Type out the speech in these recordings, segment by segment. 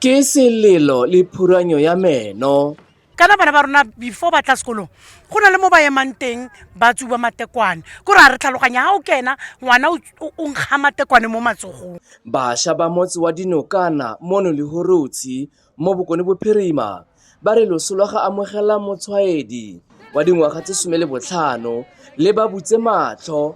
ke selelo le phuranyo ya meno kana bana ba rona before ba tla sekolong go na le mo ba emang teng ba tsuba matekwane ko re a re tlhaloganya ga o kena ngwana o nkga matekwane mo matsogong bašwa ba motse wa dinokana mono le horotsi mo bokone bophirima ba re loso lwa ga amogela motshwaedi wa dingwaga tse some le botlhano le ba butse matlho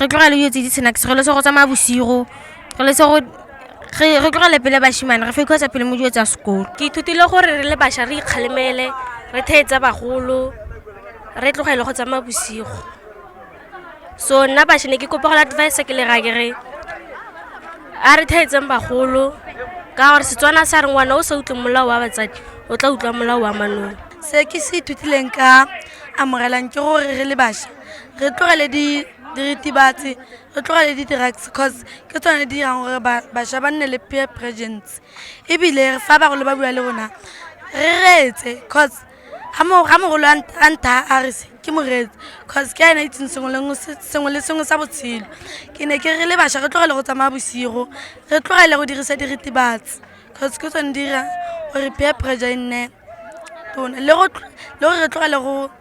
re tlogele dilo tse di snacks re lese go tsamaya bosigo re lese go re tlogele pele bashimane re fekotsa pele mo dilo tsa sekolo ke ithutile gore re le bašwa re ikgalemele re theetsa bagolo re tlogele go tsamaya bosigo so nna bašwa ne ke kopa go la advice ke le ra ke re a re theetseng bagolo ka gore setswana sa re ngwana o sa utlwe molao wa batsadi o tla utlwa molao wa manong se ke se ithutileng ka amogelang ke gore re le bašwa re tlogele diritibatsi re tlogele di-drugs cause ke tsone di dirang gore bašwa ba nne le peer presence ebile fa bagolo ba bua le rona re reetse cause ga mogolo a ntha a re se ke moreetsi cause ke ena itseng sengwe le sengwe sa botshelo ke ne ke re le bašwa re tlogele go tsamaya bosigo re tlogele go dirisa diritibatsi cause ke tsone dira gore peer pressure e nne tona le gore re tlogele go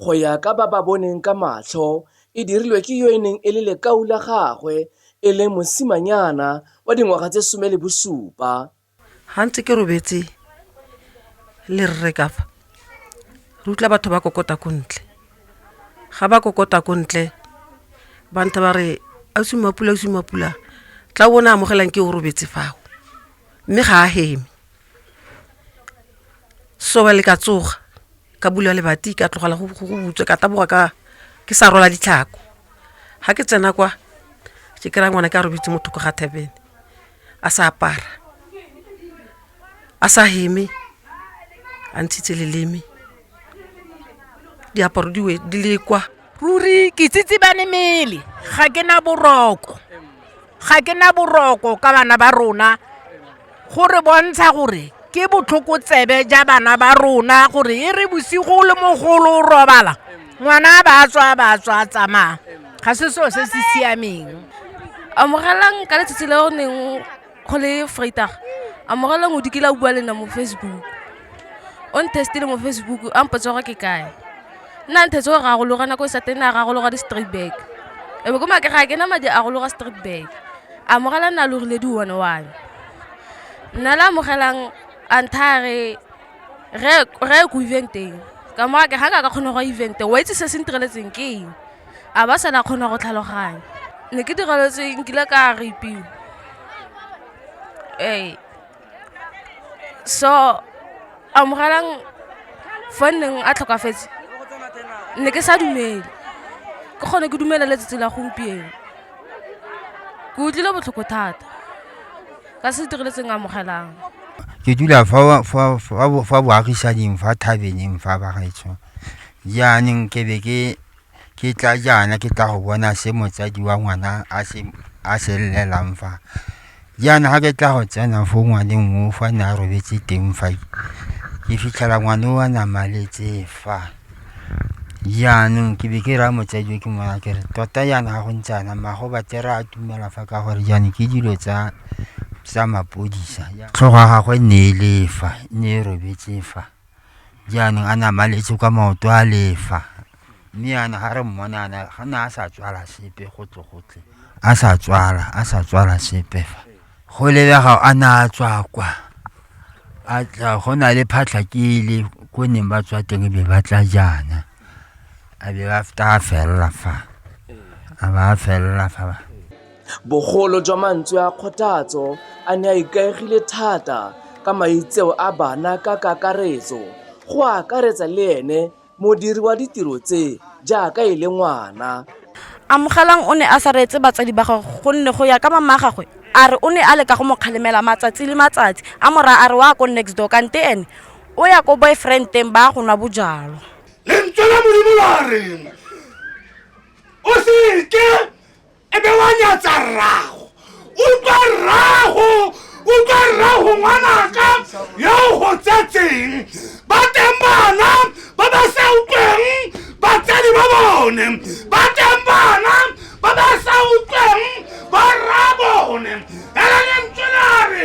Go ya ka ba ba boneng ka matlho, e dirilwe ke yo e neng e le lekau la gagwe e leng mosimanyana wa dingwaga tse some le bosupa. Ga ntse ke robetse le rre ka fa, re utlwa batho ba kokota ko ntle. Ga ba kokota ko ntle, ba ntha ba re, Ausi Mmapula, Ausi Mmapula, tla o bone amogelang ke o robetse fao. Mme ga a heme. soba le ka tsoga ka bula lebati ka tlogela go butswe ka taboga ka ke sa rola ditlhako ga ke tsena kwa ke kry-a ngwana ke a robetse motho ko ga thabene a sa apara a sa heme a ntshitse leleme diaparo di le kwa ruri ke tsitsibane mele ga ke na boroko ga ke na boroko ka bana ba rona go re bontsha gore ke botlhoko tsebe ja bana ba rona gore e re bosigo le mogolo o robala ngwana ba tswa ba tswa tsamaya ga se seo se se siameng amogelang ka letsatsi le o neng go le freitag a morala ngodi ke la bua le nna mo facebook o ntestile mo facebook a mpotsa gore ke kae nna nthetse go ragologa nako e sa teng na ragologa di-straight back e be ko make ga ke na madi a gologa straight back a mogala nna logile di one one nna le amogelang a nthare re ye ko eventeng ka moga ke ga ka ka kgone go evente wa itse se se ntireletseng ke eng A ba sa na kgona go tlhaloganya. Ne ke diraletswe nkile ka rapiwa. Ee. So amogelang fa nneng a tlhokafetse ne ke sa dumele. Ke kgone ke dumele letsatsi la gompieno. Ke utlwile botlhoko thata ka se direletseng amogelang. Ke dula fa fa fa boagisaneng fa thabeneng fa bagaetsho. Jaanong ke be ke ke tla jaana ke tla go bona se motsadi wa ngwana a se a se llelang fa jaana ga ke tla go tsena fo ngwaneng o fa ne a robetse teng fa ke fitlhela ngwana o a namaletse fa jaanong ke be ke raya motsadi o ke mona ke re tota jaana ga go ntse ana mago batera a tumela fa ka gore jaanong ke dilo tsa tsa mapodisa tlhogo ya gagwe ne e le fa ne e robetse fa jaanong a na maletse kwa maoto a lefa mme yana ga re mmona ana ga na a sa tswala sepe gotle gotle a sa tswala a sa tswala sepe fa go lebega a na a tswa kwa a tla go na le phatlha ke le ko neng ba tswa teng be ba tla jaana a be ba feta a felela fa a ba a felela fa Bogolo jwa mantswe a kgothatso a ne a ikaegile thata ka maitseo a bana ka kakaretso, go akaretsa le ene modiri wa ditiro tse jaaka e le ngwana. Amogelang o ne a sa reetse batsadi ba gagwe gonne go ya ka mamagagwe a re o ne a leka go mo kgalemela matsatsi le matsatsi a mo raya a re o a ko next door kante ene o ya ko boyfriend-teng ba ya go nwa bojalwa. Lentswe la Modimo la reng, O se ke. e be wa nyatsa rrago utlwa rrago utlwa rrago ngwanaka yo o go tsetseng ba teng bana ba ba sa utlweng batsadi ba bone ba teng bana ba ba sa utlweng ba rra bone ela lentswe la re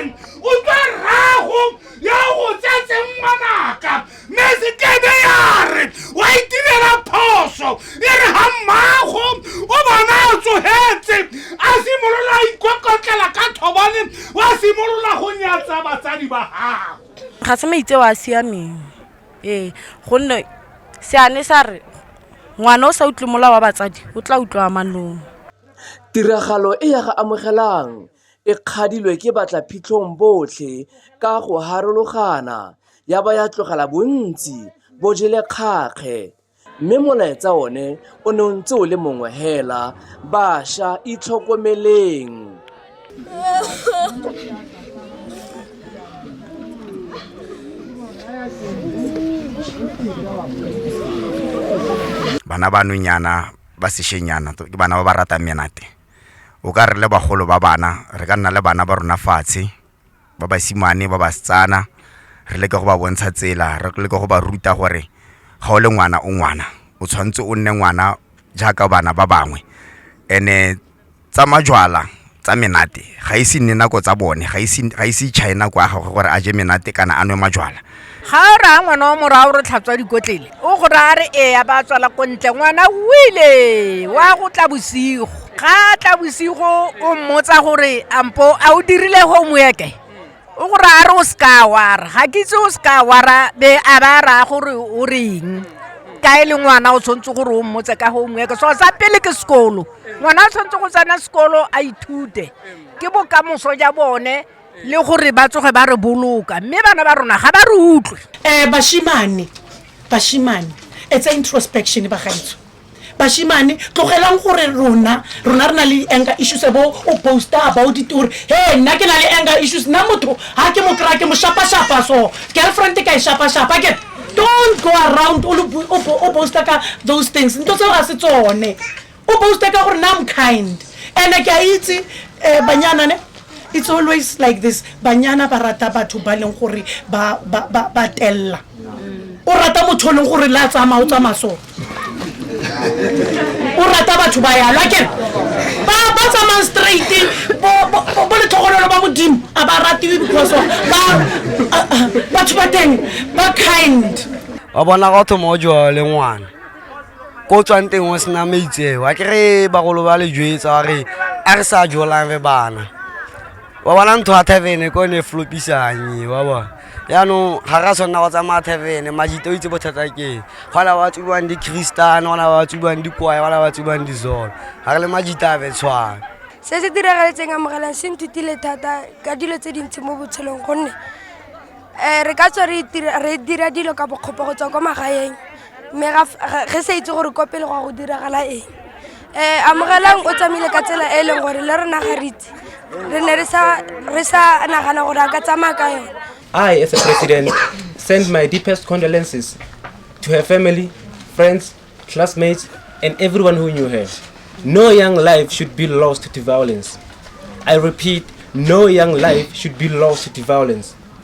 utlwa rrago yo o go tsetseng ngwanaka mme se kebe ya re wa itirela phoso e re ga mmago o bona a tsogetse a simolola a ikokotlela ka thobane wa simolola go nyatsa batsadi ba gago ga se maitseo a siameng ee gonne seane sa re ngwana o sa utlwe mola wa batsadi o tla utlwa manong tiragalo e ya ga amogelang e kgadilwe ke batlaphitlhong botlhe ka go harologana ya ba ya tlogela bontsi bo jele kgakge mme molaetsa one o ne o ntse o le mongwe hela basha itlhokomeleng bana ba nonyana ba sešenyana ke bana ba ba ratang menate o ka re le bagolo ba bana re ka nna le bana ba rona fatshe ba basimane ba basetsana re leke go ba bontsha tsela re leke go ba ruta gore ga o le ngwana o ngwana o tshwanetse o nne ngwana jaaka bana ba bangwe ene tsa majwala tsa menate ga ise nne nako tsa bone ga ise ga ise china kwa gagwe gore a je menate kana a nwe majwala ga o raya ngwana wa morago re tlhatswa dikotlele o go raya re eya ba tswala ko ntle ngwana wile wa go tla bosigo ga tla bosigo o mmotsa gore ampo a o dirile homeworke o go raya re o seka wara ga ke itse o seka wara be a ba raya gore o reng ka e le ngwana o tshwanetse gore o mmotse ka homework so sa pele ke sekolo ngwana o tshwanetse go tsena sekolo a ithute ke bokamoso ja bone le gore ba tsoge ba re boloka mme bana ba rona ga ba re utlwe um bashimane bashimane it's a introspection bagaitso bashimane tlogelang gore rona rona re na le di-anger issues bo o posta about it gore he nna ke na le anger issues nna motho ga ke mo kry-a ke mo shapa-shapa so girlfriend ka e shapa-shapa ke don't go around o posta ka those things nto tseo ga se tsone o boaste ka gore na am kind and ke a itse um banyana ne it's always like this banyana ba rata batho ba leng gore ba telela o rata motho o leng gore le a tsamaya o tsamaya so o rata batho ba yalo akere ba tsamayang straight bo letlhogonolo ba modimo a ba ratiwe because of batho ba teng ba kind wa bona gotho mo o jwa le ngwana ko o tswang teng o sena maitseo a kere bagolo ba le jwetsa wa re a re sa jolang re bana wa bona ntho ya tavene ko ne e flopisanye wa bona yaanong ga ra tshwanela go tsamaya tavene majite o itse bothata keng gona ba tsubiwang di-christian gona ba tsubiwang dikwae gona ba tsubiwang dizolo ga re le majite a betshwana se se diragaletseng amogelang se nthutile thata ka dilo tse dintsi mo botshelong gonne um re ka tswa re dira dilo ka bokgopo go tswa kwa magaeng mme re sa itse gore kwa pele go a go diragala eng um amogelang o tsamaile ka tsela e e leng gore le rena ga re itse re ne re sa nagana gore a ka tsamaya ka yone i as a president send my deepest condolences to her family friends classmates and everyone who knew her no young life should be lost to violence i repeat no young life should be lost to violence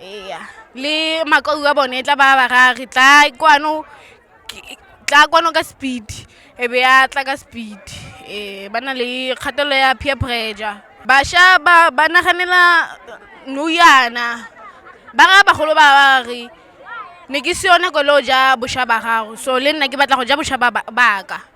ee le makau a bone e tla ba ba rage tla kwano tla kwano ka speed e be ya tla ka speed ee ba na le kgatelelo ya peer pressure bašwa ba ba naganela noyana ba raya bagolo ba ba re ne ke se yone kole o ja bošwa ba gago so le nna ke batla go ja bošwa ba ka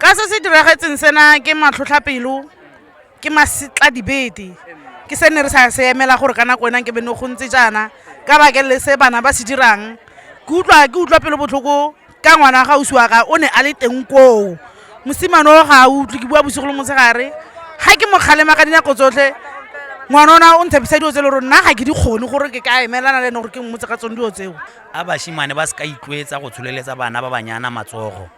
ka se se diragetseng sena ke matlhotlhapelo ke masetla dibete ke se ne re sa se emela gore ka nako enang ke be ne go ntse jaana ka bakelele se bana ba se dirang ke utlwa ke utlwa pelo botlhoko ka ngwana ga o siwa ka o ne a le teng koo mosimane o ga a utlwe ke bua bosigo le motshegare ga ke mo kgalema ka dinako tsotlhe ngwana ona o ntshepisa dilo tse le gore nna ga ke di kgone gore ke ka emelana le ene gore ke mmotse ka tsone dilo tseo A bashimane ba se ka itlweetsa go tsholeletsa bana ba banyana matsogo.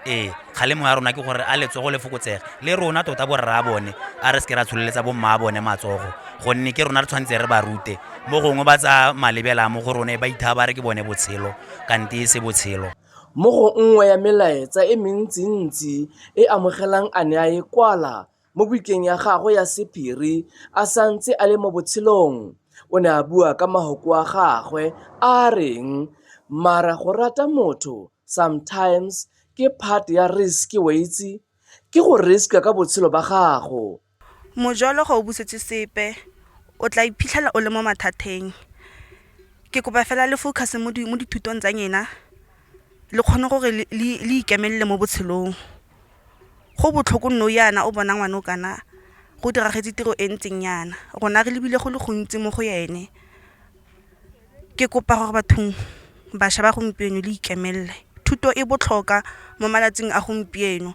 Ee, kgalemo ya rona ke gore a letsogo le fokotsege, le rona tota borraabone a re se ke ra tsholeletsa bommaabone matsogo, gonne ke rona re tshwanetse re ba rute. Mo gongwe ba tsaya malebela a mo go rona e ba ithaya ba re ke bone botshelo, kante e se botshelo. Mo go nngwe ya melaetsa e mentsintsi e amogelang a ne a e kwala, Mo bukeng ya gagwe ya sephiri a sa ntse a le mo botshelong, o ne a bua ka mahoko a gagwe a a reng, Mara go rata motho sometimes ke part ya risk, wa itse. Ke go risk-a ka botshelo ba gago. Mojolo ga o busetse sepe, o tla iphitlhela o le mo mathateng. Ke kopa fela le focus-e mo dithutong tsa nyena, le kgone gore le ikemelela mo botshelong go botlhoko nou yana o bona ngwana o kana go diragetse tiro e ntseng yana rona re lebile go le gontsi mo go ene ke kopa gore bathong bašwa ba gompieno le ikemelela thuto e botlhoka mo malatsing a gompieno.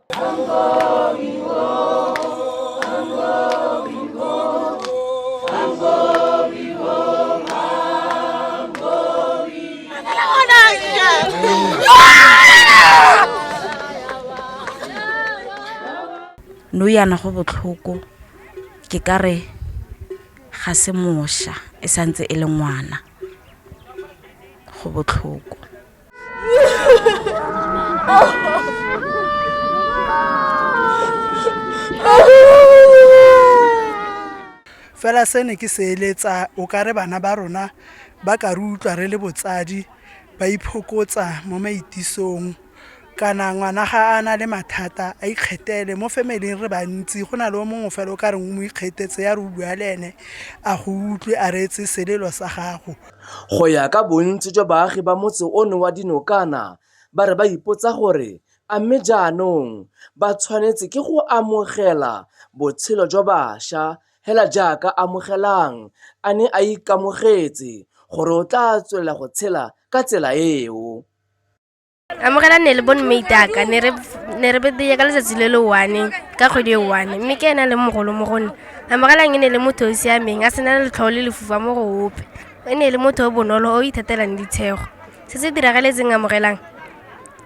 no yana go botlhoko ke ka re ga se mosha e santse e le ngwana go botlhoko fela se ne ke se eletsa o ka re bana ba rona ba ka re utlwa re le botsadi ba iphokotsa mo maitisong kana ngwana ga a na le mathata a ikgethele mo femeleng re bantsi go na le o mongwe fela o ka reng o mo ikgetetse ya re o bua le ene a go utlwe a reetse selelo sa gago Go ya ka bontsi jwa baagi ba motse ono wa dinokana ba re ba ipotsa gore a mme jaanong ba tshwanetse ke go amogela botshelo jwa basha hela jaaka Amogelang a ne a ikamogetse gore o tla tswelela go tshela ka tsela eo. amogela ne le bone meitaka ne re ne re bedeye ka letsatsi le le one ka kgwedi e one mme ke ena le mogolo mo gone amogelang e ne le motho o o siameng a sena letlhogo le lefufa mo go ope e ne le motho o bonolo o ithatelang ditshego se se diragaletseng amogelang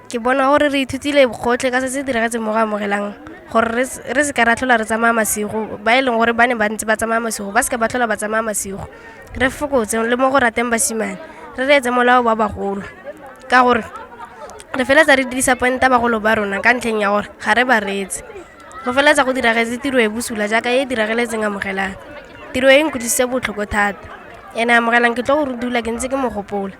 ke bona gore re ithutile gotlhe ka se se diragetseng mo go amogelang gore re s- re se ka ra tlhola re tsamaya masigo ba e leng gore ba ne ba ntse ba tsamaya masigo ba se ka ba tlhola ba tsamaya masigo re fokotse le mo go rateng basimane re reetse molao ba bagolo ka gore re feletsa re dirisa pointa bagolo ba rona ka ntlheng ya gore ga re ba reetse go feletsa go diragetse tiro e bosula jaaka e e dirageletseng amogelang tiro e nkutlwisitse botlhoko thata ene amogelang ke tlo go re dula ke ntse ke mogopola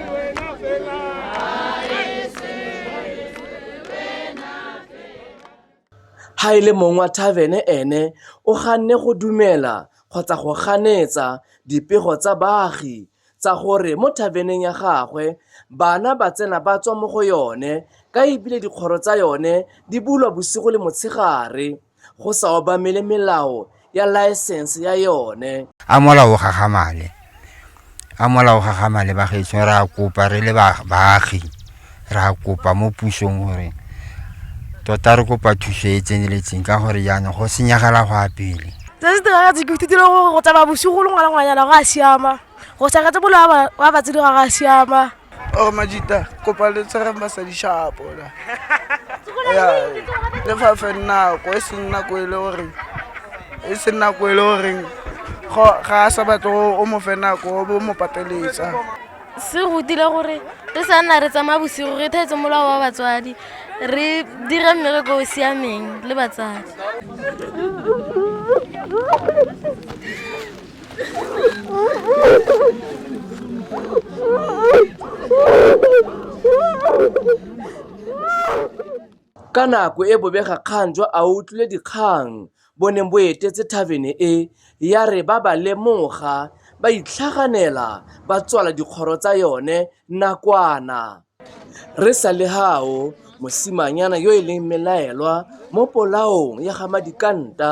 ha e le mong wa thavene ene o ganne go dumela kgotsa go ganetsa dipego tsa baagi tsa gore mo thaveneng ya gagwe bana ba tsena ba tswa mo go yone ka ebile dikgoro tsa yone di bulwa bosigo le motshegare go sa obamele melao ya laesense ya yone a mola o gagamale a mola o gagamale bagetso re a kopa re le baagi re a kopa mo pusong gore tota re kopa thuso e tseneletseng ka gore jaanong go senyagela go a pele se se tiragatse ke ithutile gore go tsamaya bosigo le ngwana ngwanyana go a siama go saketse bolo wa batsedi ga go a siama Oh Majita, kopa le tshwarang basadi shapo la. Ya, le fa fe nako e seng nako e le gore e seng nako e le gore ga a sa batla o mo fe nako o bo mo pateletsa. Se rutile gore re sa nna re tsamaya bosigo re thetse molao wa batswadi re dira mmereko o siameng le batsadi. Ka nako e bobegakgang jwa a utlwile dikgang bo neng bo etetse thavene e ya re ba ba lemoga ba itlhaganela ba tswala dikgoro tsa yone nakwana. Re sa le fao, mosimanyana yo e leng mmelaelwa mo polaong ya ga Madikanta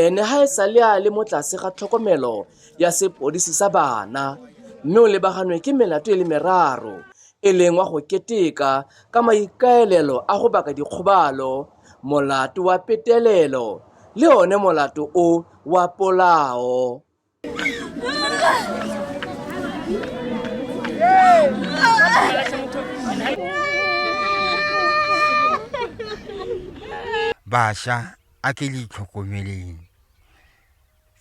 ene ga e sale a le mo tlase ga tlhokomelo ya sepodisi sa bana mme o lebaganwe ke melato e le meraro e leng wa go keteka ka maikaelelo a go baka dikgobalo, molato wa petelelo le one molato o wa polao. bašwa a ke le itlhokomeleng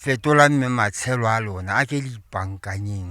fetola mme matshelo a lona a ke le ipankanyeng